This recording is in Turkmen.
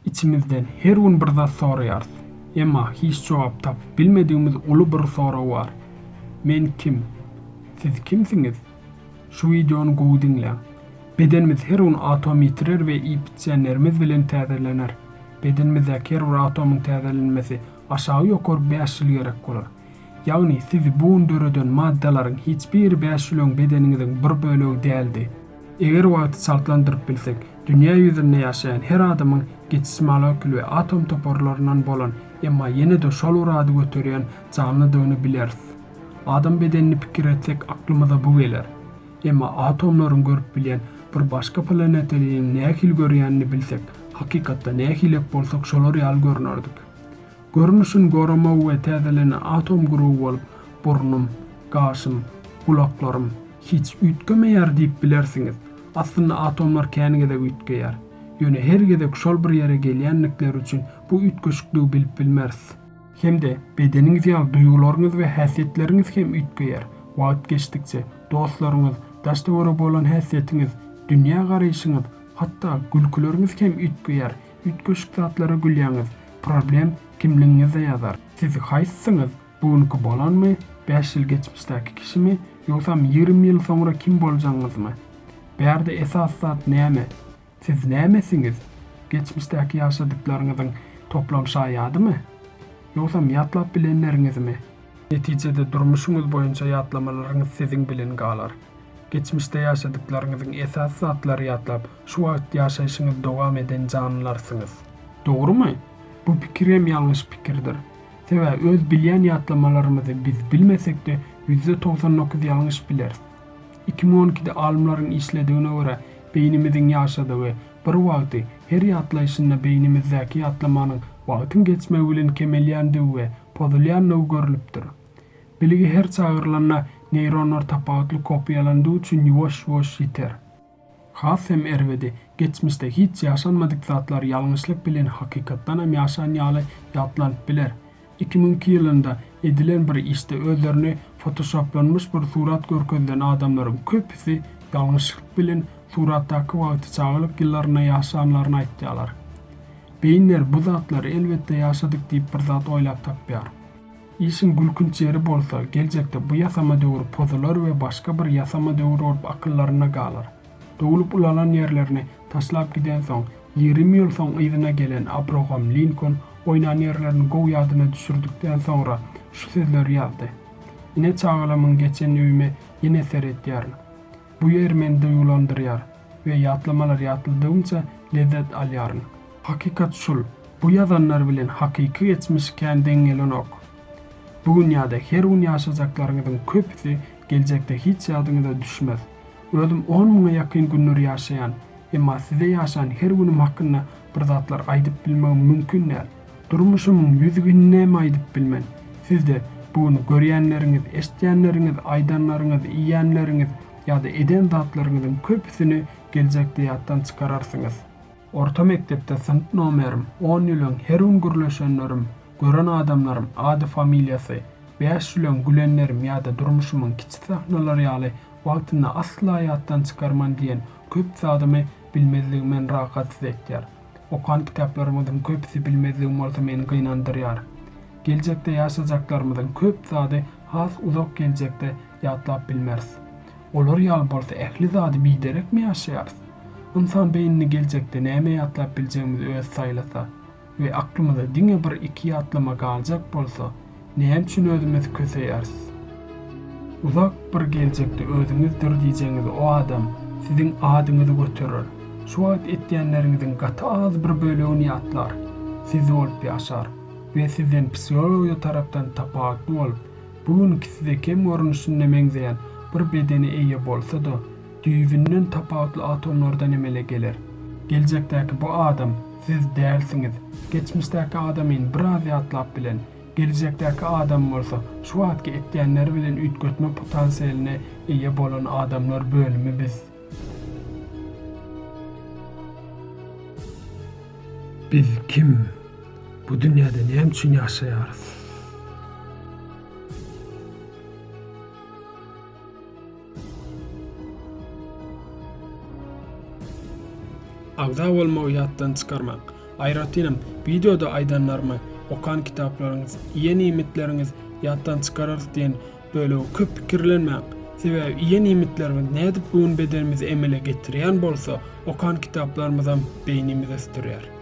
Içimizden her gün bir zat soraýarys. Emma hiç jogap tapyp bilmedigimiz uly bir sorag bar. Men kim? Siz kimsiňiz? Şu wideony gowy diňläň. Bedenimiz her gün atom ýitirer we iýip-içýänlerimiz bilen täzelener. Bedenimizdäki her bir atomyň täzelenmesi aşagy ýokary bäş ýyl gerek bolar. Ýagny sizi bu gün döreden maddalaryň hiç biri bäş ýyl öň bedeniňiziň bir bölegi däldi. Eger wagty çaltlandyryp bilsek, dünýä ýüzünde ýaşaýan her adamyň geçiş molekul we atom toparlaryndan bolan, emma ýene-de şol bir ady göterýän janlydygyny bileris. Adam bedenini pikir etsek aklymyza bu geler. Emma atomlaryň görüp bilýän bir başga planetanyň nähili görýänini bilsek, hakykatda nähilek bolsak şolar ýaly görnerdik. Görnüşin goramaw we täzelene atom guruwy bolup burnum, gaşym, gulaklarym hiç üýtgemeýär diýip bilersiňiz. Aslynda atomlar kän gezek üýtgeýär. Ýöne her gezek şol bir ýere gelýändikleri üçin bu üýtgeşikligi bilip bilmeris. Hem-de bedeniňiz ýaly duýgularyňyz we häsiýetleriňiz hem üýtgeýär. Wagt geçdikçe, dostlaryňyz, daş-töwerege bolan häsiýetiňiz, dünýä garaýşyňyz, hatda gülküleriňiz hem üýtgeýär. Üýtgeşik zatlara gülýäňiz, problem kimligiňizde ýazar. Siz haýsysyňyz, bu günki bolanmy, bäş ýyl geçmişdäki kişimi, ýogsam ýigrimi ýyl soňra kim boljagyňyzmy? Bärde esasy zat näme? Siz nämesiňiz? Geçmişdäki ýaşadyklaryňyzyň toplam şaýadymy? Ýogsam ýatlap bilenleriňizmi? Netijede durmuşyňyz boýunça ýatlamalaryňyz siziň bilen galar. Geçmişde ýaşadyklaryňyzyň esasy zatlary ýatlap, şu wagt ýaşaýşyňyzy dowam eden janlarsyňyz. Dogrumy? Bu pikir hem ýalňyş pikirdir. Sebäbi öz bilýän ýatlamalarymyzy biz bilmesek-de, ýüzde togsan dokuz ýalňyş bileris. Iki müň on ikide alymlaryň işledigine görä, beýnimiziň ýaşadygy, bir wagty, her ýatlaýşynda beýnimizdäki ýatlamanyň wagtyň geçmegi bilen kemelýändigi we pozulýandygy görlüpdir. Bilgi her çagyrylanda neýronlar tapawutly kopiýalandygy üçin ýuwaş-ýuwaş ýiter. Has hem erbedi, geçmişde hiç ýaşanmadyk zatlar ýalňyşlyk bilen hakykatdanam ýaşan ýaly ýatlanyp biler. Iki müňki ýylynda edilen bir işde özlerini fotoşoplanmyş bir surat görkezilen adamlaryň köpüsi ýalňyşlyk bilen suratdaky wagty çagalyk ýyllarynda ýaşanlaryny aýtýarlar. Beýinler bu zatlary elbetde ýaşadyk diýip bir zat oýlap tapýar. Işiň gülkünç ýeri bolsa, geljekde bu ýasama döwür pozular we başga bir ýasama döwür bolup akyllarynda galar. Doglup ulalan ýerlerini taşlap gidensoň, ýigrimi ýyl soň yzyna gelen Abrogam Linkoln oýnan ýerlerini gowy ýadyna düşürdikden soňra şu sözleri ýazdy, Ine çagalamyň geçen öýüme ýene seretýärin. Bu ýer meni duýgulandyrýar. we ýatlamalar ýatladygymça lezzet alýaryn. Hakykat şul, bu ýazanlar bilen hakyky geçmiş kän deň gelenok. Bu gün ýa-da her gün ýaşajaklaryňyzyň köpüsi geljekde hiç ýadyňyza düşmez. Özüm on müňe ýakyn günler ýaşaýan, emma size ýaşan her günüm hakynda bir zatlar aýdyp bilmegim mümkin däl. Durmuşymyň ýüz gününem aýdyp bilmen. Sizde bu gün görýänleriňiz, eşdýänleriňiz, aýdanlaryňyz, iýýänleriňiz, ýa-da eden zatlaryňyzyň köpüsini geljekde ýatdan çykararsyňyz. Orta mekdepde synp nomerim, on ýüleň, her gün gürleşenlerim, gören adamlarym, ady-familiýasy, bäş ýüleň, gülenlerim ýa-da durmuşymyň kiçi sahnalary ýaly wagtynda asla ýatdan çykarman diýen köp zadymy bilmezligim meni rahatsyz etýär. Okan kitaplarymyzyň köpüsi bilmezligim bolsa meni gynandyrýar. Geljekde ýaşajaklarymyzyň köp zady has uzak geljekde ýatlap bilmeris. Olar ýaly bolsa ähli zady biderekmi ýaşaýarys? Ynsan beýnini geljekde näme ýatlap biljegimizi özi saýlasa we aklymyza diňe bir iki ýatlama galjak bolsa, näme üçin özümizi köseýäris? Uzak bir geljekde özüňizdir diýjegiňiz o adam siziň adyňyzy göterer, şu wagt etýänleriňiziň gaty az bir bölegini ýatlar, siz bolup ýaşar we sizden psihologiýa tarapdan tapawutly bolup, Bu günki size kem görnüşinde meňzeýän bir bedene eýe bolsa-da, düýbünden tapawutly atomlardan emele geler. Geljekdäki bu adam siz dälsiňiz. Geçmişdäki adamyny biraz ýatlap bilen, geljekdäki adamy bolsa şu wagtky etýänleri bilen üýtgetme potansiýalyna eýe bolan adamlar bölümi biz. Biz kim? Bu dünýäde näme üçin ýaşaýarys? Agza bolmagy ýatdan çykarmaň. Aýratynam, wideoda aýdanlarymy, okan kitaplaryňyz, iýen iýmitleriňiz ýatdan çykararys diýen bölegi köp pikirlenmäň. Sebäbi iýen iýmitlerimiz nädip bu gün bedenimizi emele getirýän bolsa, okan kitaplarymyzam beýnimizi ösdürýär.